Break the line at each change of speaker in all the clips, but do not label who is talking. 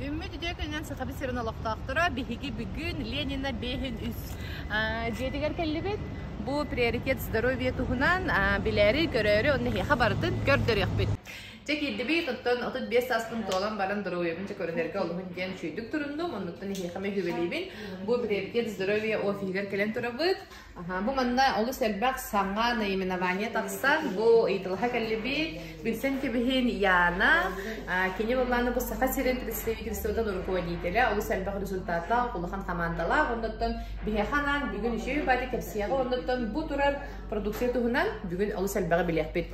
Үүммүт үтүө күнүнэн Сахабит сирин олохтоохторо биһиги бүгүн Ленина беһин үс дьиэтигэр кэллибит. Бу приоритет здоровье туһунан билээри, көрөөрү онно эһиэхэ барытын көрдөрүөхпүт. Чэ киирдибит, оттон 35 сааспын туолан баран доруобуйабын чэ көрүнэргэ олуһун диэн үчүйдүк туруннум. Оннуттан эһиэхэ мүһүбэлиибин. Бу приоритет здоровье офиһигэр кэлэн турабыт. Бу манна олус элбэх саҥа наименование тахсан, бу ыйытылаха кэллибит Билсэн кэбиһин Яна, кини боллааны бу Саха сирин представительствотын руководителя, олус элбэх результаттаах, улахан командалаах, оннуттан биһэханан бүгүн үшеуй баати кэпсиэҕи оннуттан бу турар продукция туһунан бүгүн олус элбэҕи билиэхпит.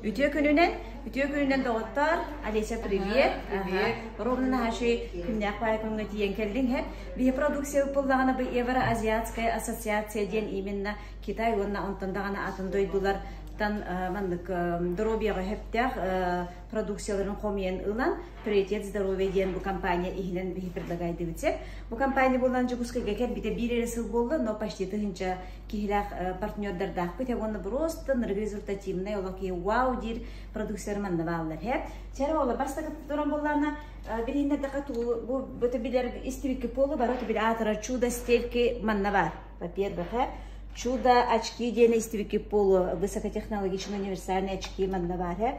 Үтүө күнүнэн, үтүө күнүнэн доҕоттоор, Олеся, привет! Привет! Ровно на нашей күннээх паайкуҥҥа тиийэн кэллиҥ һэ. Биһи продукция ыппыллаҕына бы Евроазиатская ассоциация диэн именно Китай уонна онтон даҕаны атын дойдулар тан маннык доруобуйаҕа хэптээх продукцияларын хомуйан ылан Приятет здоровья диэн бу компания иһинэн биһи предлагайдыбытсер. Бу компания булан Дьокуускайга кэлбите биир эрэ сыл буолла, но почти тыһынча киһилээх партнердардаахпыт, уонна просто ныргы результативнай олох вау диир продукциялар мандабааллар. Чара ола бастакы туран боллана билиннердеха туу бу бу билер истибикки полу бара бил атара чудо стельки маннабар. Во-первых, чудо очки диэн истибикки полу высокотехнологичные универсальные очки маннабар.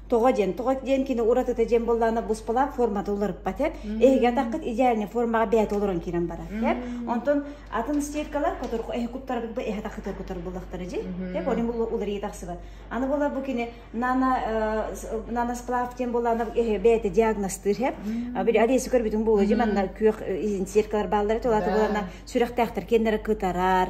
тоҕо диэн тоҕо диэн кини уратыта диэн буоллаҕына буспалаах формата уларыппат эп эһиги атаххыт идеальный формаҕа бэйэтэ олорон киирэн барар эп онтон атын стиркалар которку эһи куттарбыт бу эһи тахытар кутар буллахтара дии эп олим уларыйа тахсыбат аны буолар бу кини нано наносплав диэн буоллаҕына эһи бэйэтэ диагностыыр эп бир олеся көрбүтүн буола дии манна күөх стиркалар бааллара толата буоллаҕына сүрэхтээхтэр киэннэрэ кытарар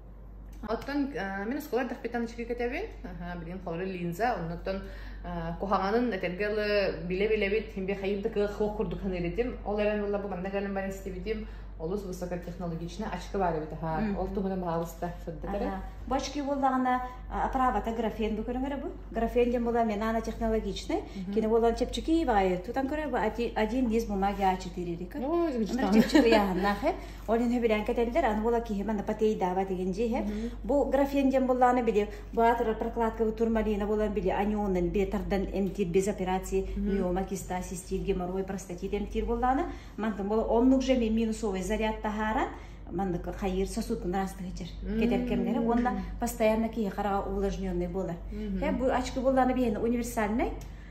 Оттон э, мин оскуола эрдэхпиттэн ачыкы кэтэбин. Аха, билигин холоро линза, оннуттан э, куһаҕанын этэргэ ылы билэ-билэбит, химбиэхайым да кыах курдук саныырытым. Ол эрэн ылла бу манна кэлэн баран истибитим. Олус высокотехнологично ачыкы баар эбит аха. Ол туһунан баҕалыста сырдатары. Бу очки буоллаҕына оправата графен бу көрүҥөрө бу. Графен дем была менана технологичный. Кине болан чепчики баайы тутан көрө один из бумаги а4 Ну, чепчики яханнахы. Ол иһин хүбүрээн кэтэллэр, аны була киһи мана патейдаава деген дьиһэ. Бу графен диэн боллааны били баатыр прокладкабы турмалина болан били аньонын бир тардан эмтир без операции миома киста систир геморрой простатит эмтир боллааны. Мантан бола оннук же минусовый заряд тахаран маннык хайыр сосудун распыхычыр кетеркемнери уонна постоянно киһи хараҕа увлажненный болар. Хэ бу очко боллааны бейн универсальный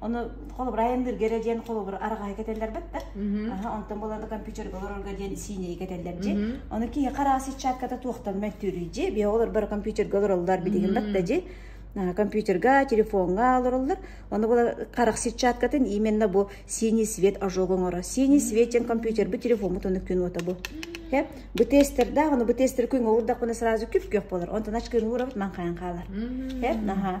Оны холобура айанныырга эрэ диэн холобура арҕаһы кэтэллэрбэт да. Онтон буларда компьютерга олорорго диэн сиинэйи кэтэллэр дьи. Оны киһи хараа сетчатката туохтан мөттүрүй дьи. Бия олор бары компьютерга олороллар битигин батта дьи. компьютерга телефонга олороллор оны була харах сетчаткатын именно бу синий свет ожог оңоро синий свет ден компьютер бу телефон мутону күн ото бу хе бу тестер да аны бу тестер күн олурдак буна сразу күп күөх болор онтон ачкын урабыт ман каян калар хе наха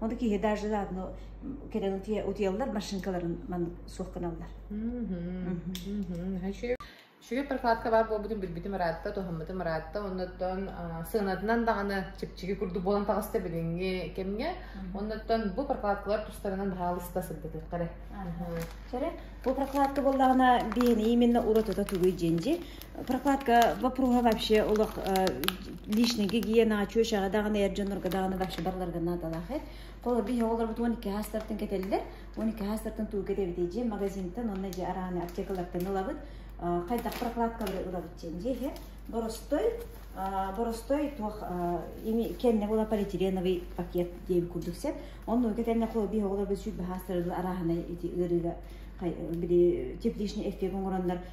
Ону киһи даже да ну кэлэн утуйаллар машинкаларын маннык суох гыналлар. Сүрүн прокладка баар буолбутун билбитим ыраатта, туһаммытым ыраатта, оннуттан сыанатынан даҕаны чипчиги курдук буолан таҕыста билиҥҥи кэмҥэ. Оннуттан бу прокладкалар тустарынан баһаалыста сырдатыахха эрэ. Бу прокладка буоллаҕына биһини именно уратыта тугуй дьинжи прокладка вопроһа вообще олох личный гигиенаҕа чүөчэҕэ даҕаны эр дьоннорго даҕаны вообще барыларга наадалаах эт холор биһи оҕолорбут он икки хаастартан кэтэллэр он икки хаастартан туу кэтэбит дьиэ магазинтан онно дьэ арааны аптекалартан ылабыт хайдах прокладкалары ылабыт диэн дьиэһэ боростой боростой туох ими кэнне була полиэтиленовый пакет диэн курдук сен онну кэтэнне холор биһи оҕолорбут сүт баһаастарылы арааһынай ити ыарыыга били тепличный эффект оҥороннор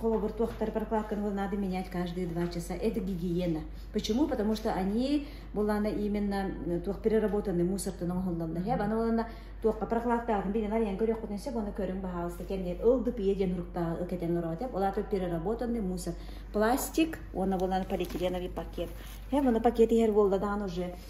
Холобур, туохтар прокладканы надо менять каждые два часа. Это гигиена. Почему? Потому что они булана именно туох переработанный мусортын оҥоһуллалла. Аны булана туохка прокладтаатын билен айан көрүөхпүтүн сеп оны көрүҥ баһаалыста кэмниет ылды пие диэн уруктааҕы кэтэн ороотеп. Олаата переработанный мусор. Пластик, оны булан полиэтиленовый пакет. Һэ, муну пакет иһэр болла даҕаны уже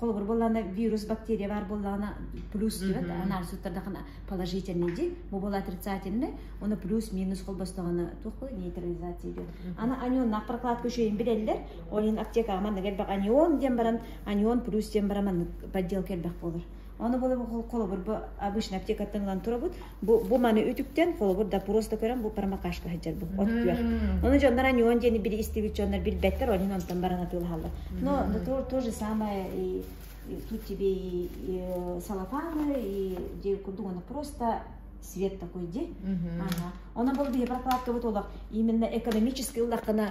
холобур буоллаҕына вирус бактерия баар буоллаҕына плюс диэбэт анаар суттардахына положительный дии бу буола отрицательный оны плюс минус холбостоҕуна туох буолар нейтрализация диэн аны анионнаах прокладка үшейин билэллэр ол иһин аптекаҕа манна элбэх анион диэн баран анион плюс диэн баран маннык подделка элбэх буолар аны бұл холобур обычно аптекаттан ылан турабыт бу, бу маны үтүктэн холобур допрос да көрөн бу промокашка сылдьарбын от күөх оны дьоннор аньуон диэни били истибит дьоннор билбэттэр ол иһин онтон баран атыылаһаллар но но то, то же самое и, и тут тебе и, и салафаны и где курдук оно просто свет такой ди ага онон бұл биһи прокладкабыт олох именно экономический ыллахтана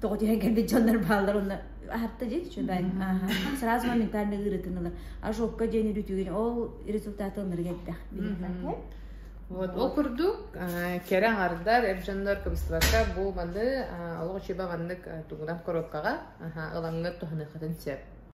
тоҕо диэн кэлбит дьоннор бааллар уонна аһатта диэн үчүгэй сразу моментально ыырытынылар ожогко диэн үрүтүгүн ол результаты ылыныры кэлтэх вот ол курдук кэрэ аҥардар эр дьоннор кыбыстыбакка бу маны олох үчүгэй маннык тугунан короткаҕа ылаҥҥыт тоһаныаххытын сөп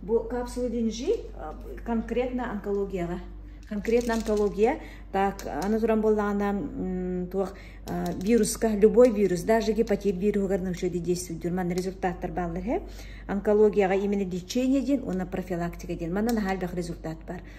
Бу капсула динжи конкретно онкологияға конкретно онкология так аны туран буоллаҕына туох вируска любой вирус даже гепатит вируһугар нөшөди действуйдур манна результаттар бааллар һэ онкологияға именно лечение диэн уонна профилактика диэн манна наһаа элбэх результат бар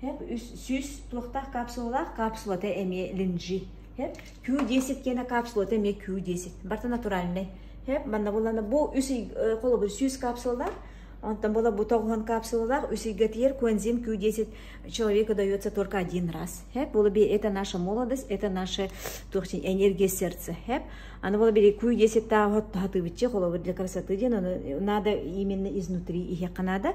сүүс туохтаах капсулалаах капсулата эмиэ линжи хэп Q10 киэнэ капсулата эмиэ Q10 барта натуральнай хэп манна буллана бу үс холобур сүүс капсулалаах онтон была бу тоҕуһан капсулалаах үс ыйгатыйар куэнзим Q10 человека дается только один раз хэп было би это наша молодость это наше энергия сердца хэп аны было би Q10 таа хатыбыччы холобур для красоты диэн ону надо именно изнутри иһиэххэ наада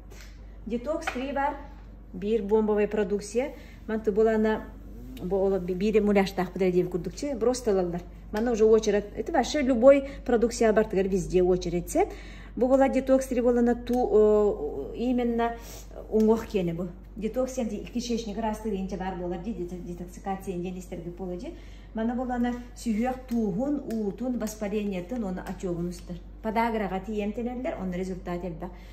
Детокс триевар биир буомбовай продукция манты буолаана биир муляжтаахпыт эрэ диэн курдук чэ броста ылаллар манна уже очередь это вообще любой продукция бартыгар везде очередь сет бу буолар детокс три буолана ту именно уҥуох киэнэ бу детокс кишечник ыраастыыр инчэ баар буолар ди детоксикация диэн истэргэ буола ди манна буолана сүһүөх тууһун уутун воспалениетын уонна отёгун устар подаграҕа тиийэн тэлэллэр онно результат элбэх